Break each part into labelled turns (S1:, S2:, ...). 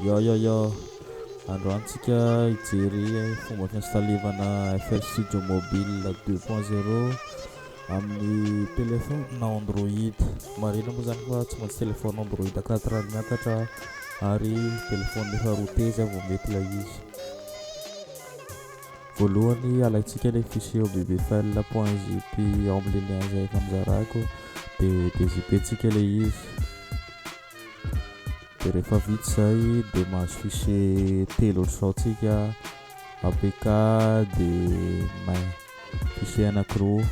S1: Yò yò yò, androany tsika hijery fomba fiinstalevana FL Studio Mobile deux point zero amin'ny téléphone na Android. Marihina moa zany fa tsy maintsy téléphone Android quatre ary miakatra ary téléphone efa routé zay vao mety ilay izy. Voalohany alaintsika ilay fichier au bbfl point zip omb le lien zay efa nozaràko dia dé-zip-ntsika ilay izy. Dia rehefa vita izay dia mahazo fichier telo ohatr'izao tsika apk dia main fichier anakiroa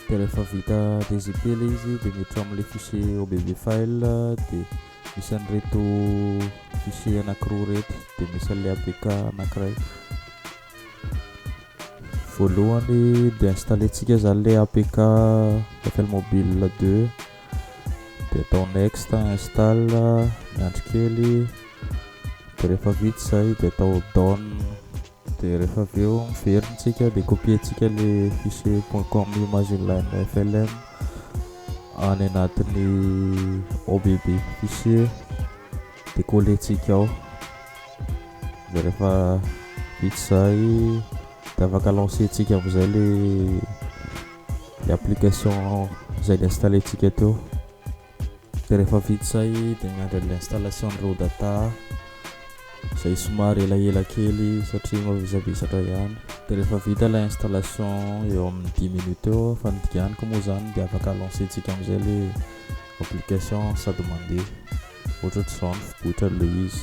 S1: dia rehefa vita dgp ilay izy dia miditra ao amin'ilay fichier obv file dia misy an'ireto fichier anakiroa ireto dia misy an'ilay apk anakiray voalohany dia installentsika izany ilay apk FL Mobile 2 dia atao next install miandry kely dia rehefa vita izay dia atao down dia rehefa avy eo miverina tsika dia copier-tsika le fichier .com image inline flm any anatin'ny OBB fichier dia coller-tsika ao dia rehefa vita izay dia afaka lancer-tsika amin'izay le ny application izay ni-installer-tsika teo dia rehefa vita izay dia miandry an'ilay installation an'ireo data izay somary elaela kely satria mavesabesatra ihany dia rehefa vita ilay installation eo amin'ny dix minutes eo fa ny diganiko moa izany dia afaka lancer-tsika amin'izay ilay application sady mandeha ohatraohatr'izao ny fiboitrany ilay izy